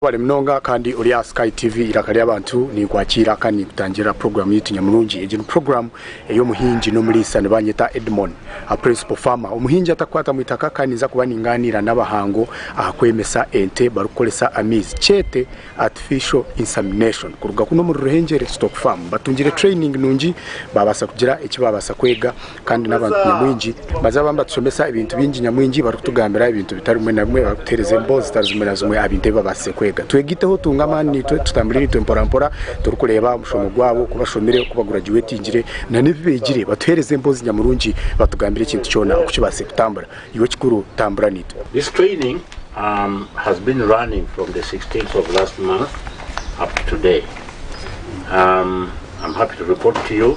Webale munonga kandi ori aha sky TV iraka ry'abantu ninkwakiira kandi ninkutangirira program yaitu nyamurungi. Egi ni program ey'omuhingi n'omuriisa nibanyeta Edmon a principal farmer omuhingi atakukwatamu itaka kandi ninza kuba ninganiira n'abahango aha kwemesa ente barikukoresa amaizi kyete artificial insamination kuruga kunu omuri Ruhengeri stock farm. Mbatungire training nungi babasa kugira eki babasa kwega. Kandi n'abantu nyamwingi baza baba nibatushomesa ebintu bingi nyamwingi barikutugambira ebintu bitari bimwe na bimwe barikutuheereza emboozi zitari zimwe na zimwe aha bintu ebi babaasize kwega. Twegaiteho tuunge amaani naitwe tutambure naitwe mporampora turikureeba omushomo gwabo oku bashomire, oku baguragyuwetingire nana ebi beegire batuheereze emboozi nyamurungi batugambire ekintu kyona oku kibaasize kutambura. Iwe ekikuru tambura naitwe. This training has been running from the 16th of last month up to today. I'm happy to report to you.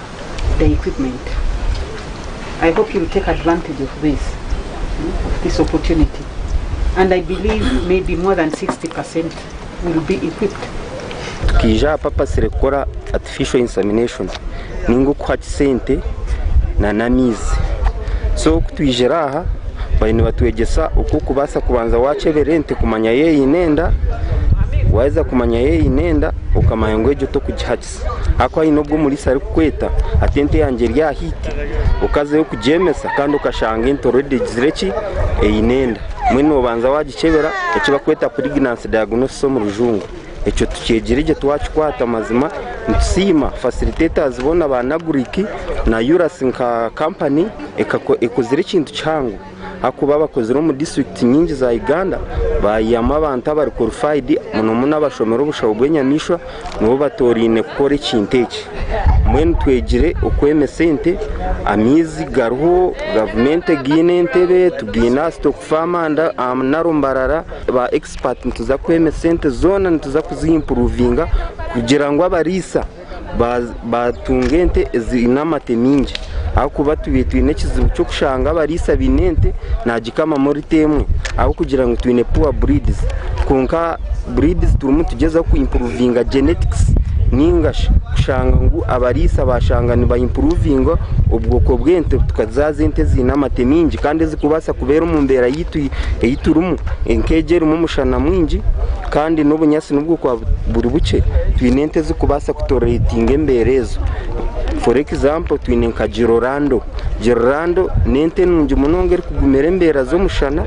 Tukaija aha papasire kukora artificial insemination ninga okuha kisente na n'amaizi so kutwijire aha bariyo nibatwegyesa oku okubaasa kubanza wakyebera ente kumanya yaaba eine enda waheza kumanya yaaba eine enda okamanya ngu egyo tokugiha kisente. Haku haine ogu omuriisa arikukweta ati ente yangye eri aha heat, okazeyo kugyemesa kandi okashanga ente already egizire ki, eine enda. Mbwenu noobanza waagikyebera eki barikweta pregnancy diagnosis omu rujungu. Ekyo tukyegire gye twakikwata mazima nitusiima facilitators boona ba Agric na URAS nka company ekakora, ekozire ekintu kihango. Ahakuba abakozire omu disiturikiti nyingi za Uganda baayihamu abantu abari korifayidi, muno muno abashomire obushaho bw'enyamaishwa nibo batooraine kukora ekintu eki. Mbwenu twegire okwema esente, amaizi gariho, gavumenti egaine entebe, tugaine aha sitoku faamu andi aha Naro Mbarara, ba egisipati nituza kwema esente zoona nituza kuziimpuruvinga kugira ngu abariisa, batunga ente eziine amate mingi ahabw'okuba twiire twine ekizibu ky'okushanga abariisa baine ente naagikamamu lita emwe ahabw'okugira ngu twine puwa buriidizi kwonka buriidizi turimu nitugyezaho kwimpuruvinga jenetikisi nainga shi kushanga ngu abariisa baashanga nibaimpuruvinga obwoko bw'ente tukazaaza ente eziine amate mingi kandi ezikubaasa kubeera omu mbeera yaitu ei turimu, ente egi erimu omushana mwingi Kandi n'obunyatsi nobwokuba buri bukye twine ente ezikubaasa kutoretinga embeera ezo for example twine nka girorando girorando nente nungi munonga erikugumira embeera z'omushana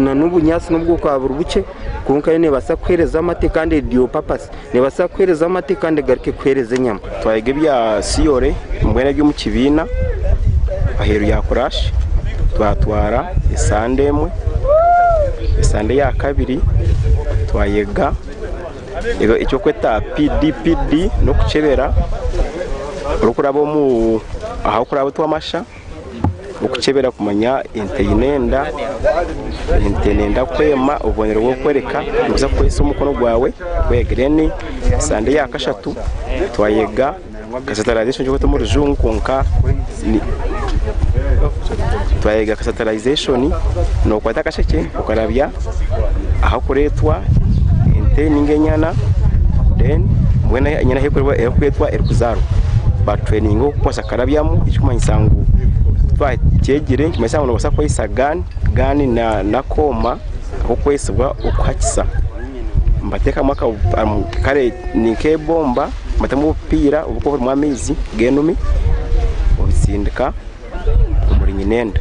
nanobunyatsi nobwokuba buri bukye kwonka yo nebaasa kuhereza amate kandi eri dual purpose. Neebaasa kuheereza amate kandi egaruke kuheereza enyama. Twayega ebya siyore mbwenu ari omu kibiina aheeru ya kuraashi twatwara esande emwe. Esande eyakabiri twayega eky'okweta PDPD n'okukyebera orikuraaba ahu orikuraaba otwe amasha. Okukyebera kumanya ente eine enda, ente nenda kwema, obubonero bw'okworeka niguza kukoresa omukono gwawe then sande ya kashatu twayega casitalization ekirikwetwa omu rujungu kwonka twayega casitalization nokwata akashekye okarabya ahakuretwa ente ninga enyana then mbwenu enyana ahu erikuretwa erikuzaarwa. Nkarabyamu ekirikumanyisa ngu twakyegire nikimanyisa ngu noobaasa kukoresa gaani, gaani n'akooma k'okwetsibwa okuhakisa. Mbateekamu kare ni nk'eibomba mbatamu obupiira obu orikuba orimu amaizi g'enume obitsindika omuri nyinenda.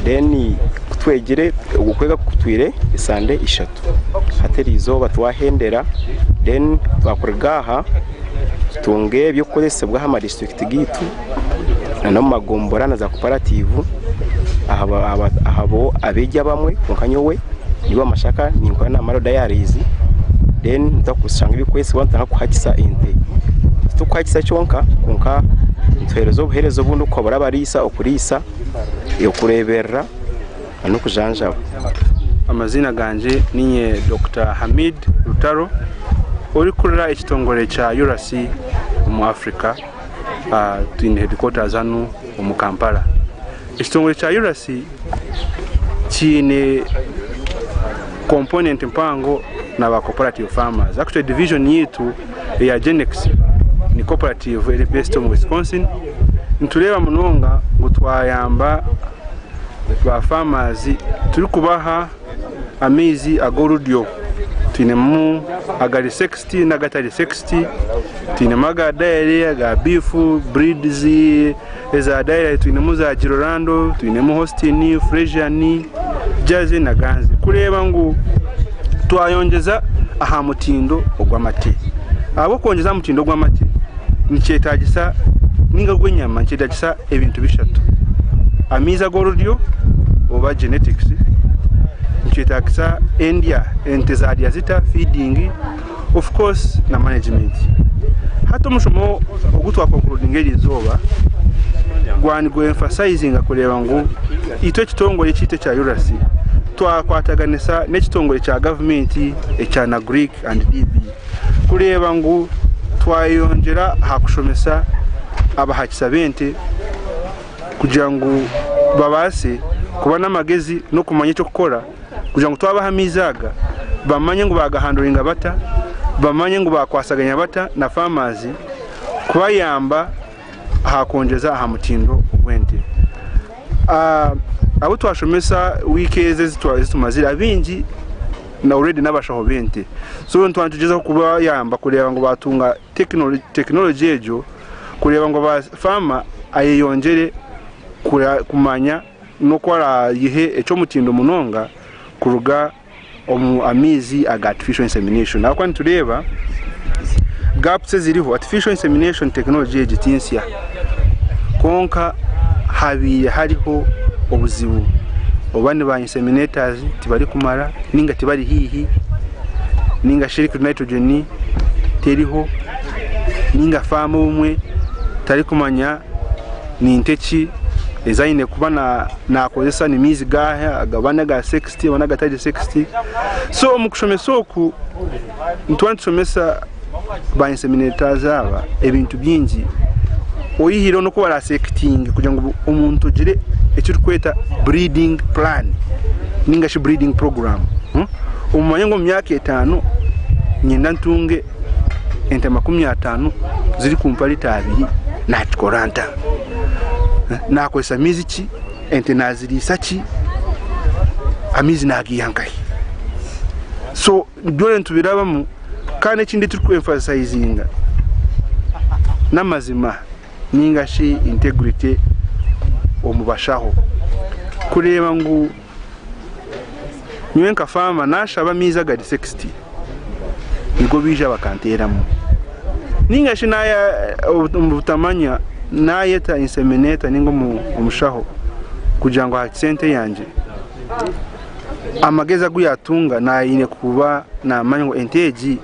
Reero ku twegire okwega kutwire esande ishatu hati erizooba twahendera reero twakuruga aha tutunge eby'okukoresibwa aha madistrict gaitu n'omu magombora na za cooperative ahabw'okuba abeegi abamwe kwonka nyowe ndi owa mashaka ninkora na mara diaries then nitushanga eby'okukoresibwa nitutandika kuhikisa ente titukuhikisa kyonka kwonka nituhereza obuhereza obundi nk'okugabira abariisa okuriisa, okureeberera. n'okujanjabwa. Amaziina gangye niinye Dokita Hamid Rutaro orikurira ekitongore kya URAC omu Africa twine headquaters hanu omu Kampala. Ekitongore kya URAC kyine component mpango na ba cooperative farmers. Actually division yaitu eya Genex ni cooperative eri based omu Wisconsin. Nitureeba munonga ngu twayamba. Ba farmers turikubaha amaizi ag'oruryo twinemu agari sexed nagatari sexed twinemu aga dairy aga beef breeds eza dairy twinemu za jirorando twinemu hostin fresian jersey na ganze kureba ngu twayongyeza aha mutindo ogw'amate ahabw'okwongyeza aha mutindo gw'amate nikyetagisa ninga gw'enyama nikyetagisa. ebintu bishatu, amaizi ag'oruryo oba genetics, nikyetagisa endya, ente zarya zita, feeding, of course na management. Hati omushomo ogu twakonkurodinga eri izooba gwa nigu emphasizinga kureeba ngu itwe ekitongore ekyaitu ekya URAC twakwataganisa n'ekitongore kya gavumenti ekya NAGRIC and DB. kureeba ngu twayeyongyera aha kushomesa abahakisa b'ente kugira ngu babaase kuba n'amagezi n'okumanya eky'okukora kugira ngu twabaha amaizi aga bamanye ngu baagahanduringa bata, bamanye ngu baakwatsaganya bata na faamazi kubayamba. aha kwongyeza aha mutindo gw'ente. Abu twashomesa wiiki ezi ezitumazire abaingi already n'abashaho b'ente so nituba nitugyezaho kubayamba kureeba ngu baatunga tekinologi egyo kureeba ngu faama ayeyongyere kumanya n'oku araagihe eky'omutindo munonga kuruga omu amaizi aga artificial insemination ahabw'okuba nitureeba gapusi eziriho. Artificial insemination tekinologye egi ti nsya kwonka habaire hariho obuzibu oba ni ba inseminators tibarikumara nainga tibari haihi nainga shi liquid nitrogen teriho nainga faamu obumwe tarikumanya ni nka eki ezi aine kuba naakozesa, ni maizi gaaha agaba n'aga sex. 60 one agatari 60 so omu kushomesa oku nituba nitushomesa ba inseminators aba ebintu byingi oyihireho n'oku barasekitinge kugira ngu omuntu ogire ekirikweta breeding plan ninga shi breeding program hmm? omumanye ngu omu myaka etaano nyenda ntunge ente makumi ataano ziri kumpa lita abiri nakikora nta eh? nakozesa mizi ki Ente naaziriisa ki? Amaizi naagaiha nkahi? So byona nitubirabamu kandi ekindi ekituri ku emphasizinga n'amazima ninga shi integrity omu bashaho kureeba ngu Nyowe nka faama naashaba amaizi agari sekisiti nigo baija bakanteeramu. Nainga shi omu butamanya naayeta ensemineta nainga omushaho kugira ngu aha sente yangye amagezi agu yaatunga naine kuba naamanya ngu ente egi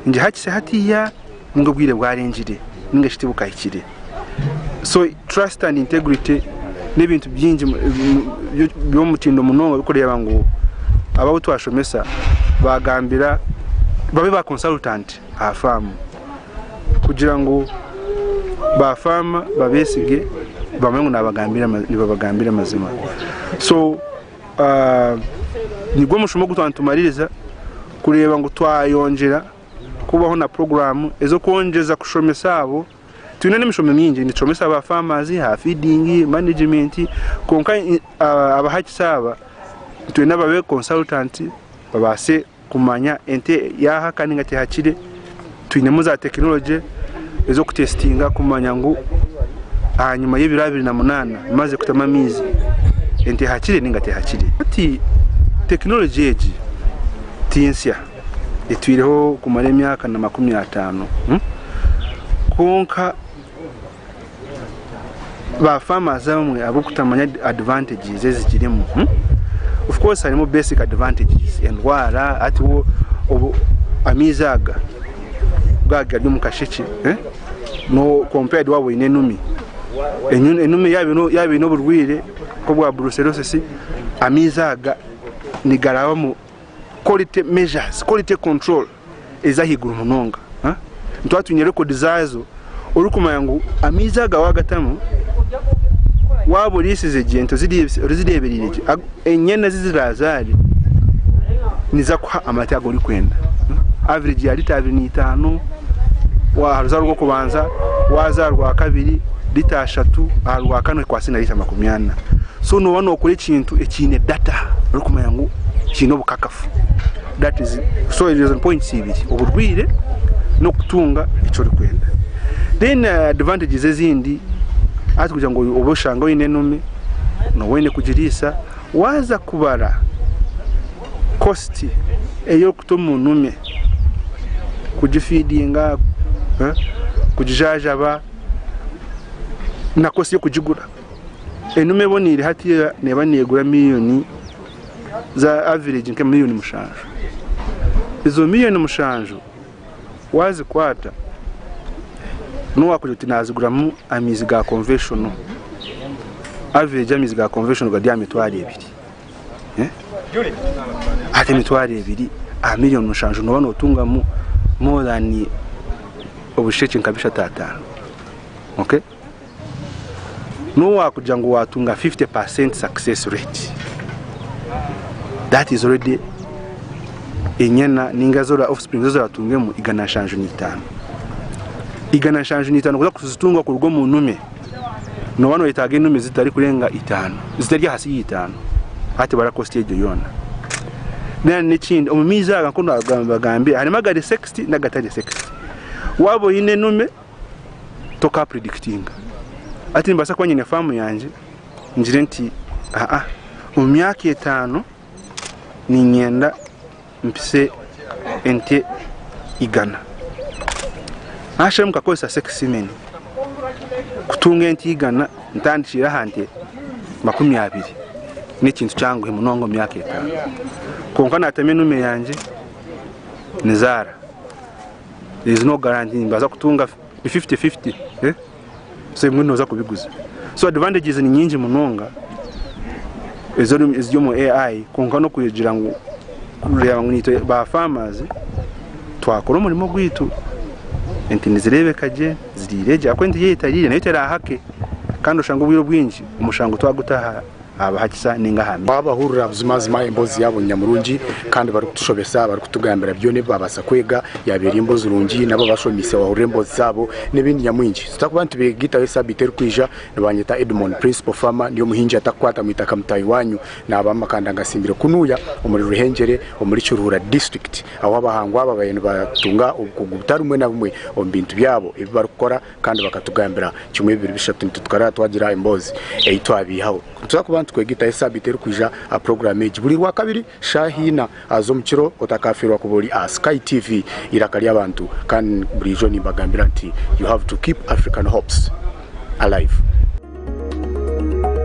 nigihakisa hatiiya ninga obwire bwarengire ninga shi tibukahikire so trust and integrity n'ebintu byingi by'omutindo munonga bikureeba ngu aba abu twashomesa bagambira babe ba consultant aha faamu kugira ngu ba faama babesige bamanye ngu nibabagambira amazima so Nigwo mushumo ogu twaba nitumaririza kureeba ngu twayongyera kubaho na puroguraamu ez'okwongyeza kushomesa abo. Twine n'emishomo mingi, nitushomesa ba faamazi aha fiidingi, manegimenti, kwonka abahikisi aba nitwenda babe konsaritanti babaase kumanya ente yaaha kandi ninga tehakire twinemu za tekinologye ez'okutesitinga kumanya ngu ahanyima y'ebiro abiri na munaana emaze kutamu amaizi ente ehakire ninga tehakire. Hati tekinologye egi tinsya etwireho kumara emyaka na makumi ataano hmm? kwonka ba farmers abamwe ahabwokutamanya advantages ezigirimu of course harimu basic advantages endwara hati wo obu amaizi aga ga gari omu kashekye no compared waba oyine enumi enumi yaba eyine oburwire nkobwa brucellosis amaizi aga nigarabamu quality measures quality control. ezi ahaiguru munonga nitwaba twine rekodi zaazo orikumanya ngu amaizi aga waagatamu waaba oriisize gye ente orizireebereire gye enyana ezi ziraazaare niziza kukuha amata agu orikwenda averegi ya liita abiri naitaano waaha ruzaaro rw'okubanza waaza aha rwakabiri liita ishatu aha rwakana ekwatsire na liita makumi ana so nooba nookora ekintu ekiine data orikumanya ngu kiine obukakafu. That is so ezo ni points ibiri oburwire n'okutunga eki orikwenda then uh, advantages ezindi ati kugira ngu obe oshanga oine enume noba oine kugiriisa waaza kubara cost ey'okuta omu nume kugifeedinga eh, kugijaajaba na cost y'okugigura enume eboneire hati neeba neegura million za average nka million mushanju. Ezo million mushanju wazikwata nobu wakugira oti naziguramu amaizi ga conventional, average amaizi ga conventional gari aha mitwaro ebiri. Eh? Hati emitwaro ebiri aha million mushanju noba notungamu more than obushekye nka bishatu ataano. Okay? N'obu waakugira ngu waatunga 50 per cent success rate, that is already enyana ninga zora offspring ezi oratungemu igana nshanju n'itaano. Igana nshanju n'itaano kuza kuzitunga kuruga omu nume, nooba noyetaaga enume zitarikurenga itaano, zitari ahansi y'eitaano hati bara cost egyo yoona. Then n'ekindi omu maizi aga nk'oku naagamba nibagambira harimu agari sexed n'agatari sexed. Waaba oine enume toka predikitinga hati nimbaasa kuba nyine faamu yangye ngire nti aa omu myaka etaano niinyenda mpise ente igana nashemwe nkakoresa sekisimeni kutunga ente igana ntandikiire aha nte makumi abiri n'ekintu kyanguhi munonga omu myaka etaano kwonka naatema enume yangye nizaara there is no guarantee nimbaasa kutunga ni fifty fifty so ebimwe nooza kubiguza so advantages ni nyingi munonga eziri eziri omu AI kwonka n'okugira ngu kureeba ngu itwe ba farmers twakora omurimo gwaitu ente nizireebeka gye ziriire gye ahabw'okuba ente yaaba etariire nayo teraahaake kandi oshange obwire obwingi omushango twaguta aha abaha kisa ninga aha mizi. Twabahurira buzimazima embozi yabo nyamurungi kandi barikutushobesa barikutugambira byona ebi babasa kwega yaba eri embozi rungi nabo abashomise wahurira embozi zabo nebindi nyamwingi tutakuba nitubegitaho esabiti erikwija nibanyeta Edmond principal farmer ndi omuhingi atakukwatamu itaka mutahi wanyu naba amakanda ngasimbire kunuya omuri Ruhengyere omuri Kiruhura district ahu abahangwa aba babaire nibatunga obukugu butari bumwe na bumwe omu bintu byabo ebi barikukora Kandi bakatugambira kimwe, bibiri, bishatu nti tukaraba twagira emboozi ei twabeihaho. Nituza kuba nitukwega itahe saabiiti erikwija aha puroguraamu egi buri Rwakabiri shaaha ina z'omu kiro. Otakafiirwa kuba ori aha Sky TV, eiraka ry'abantu. Kandi buriijo nimbagambira nti, You have to keep African hopes alive.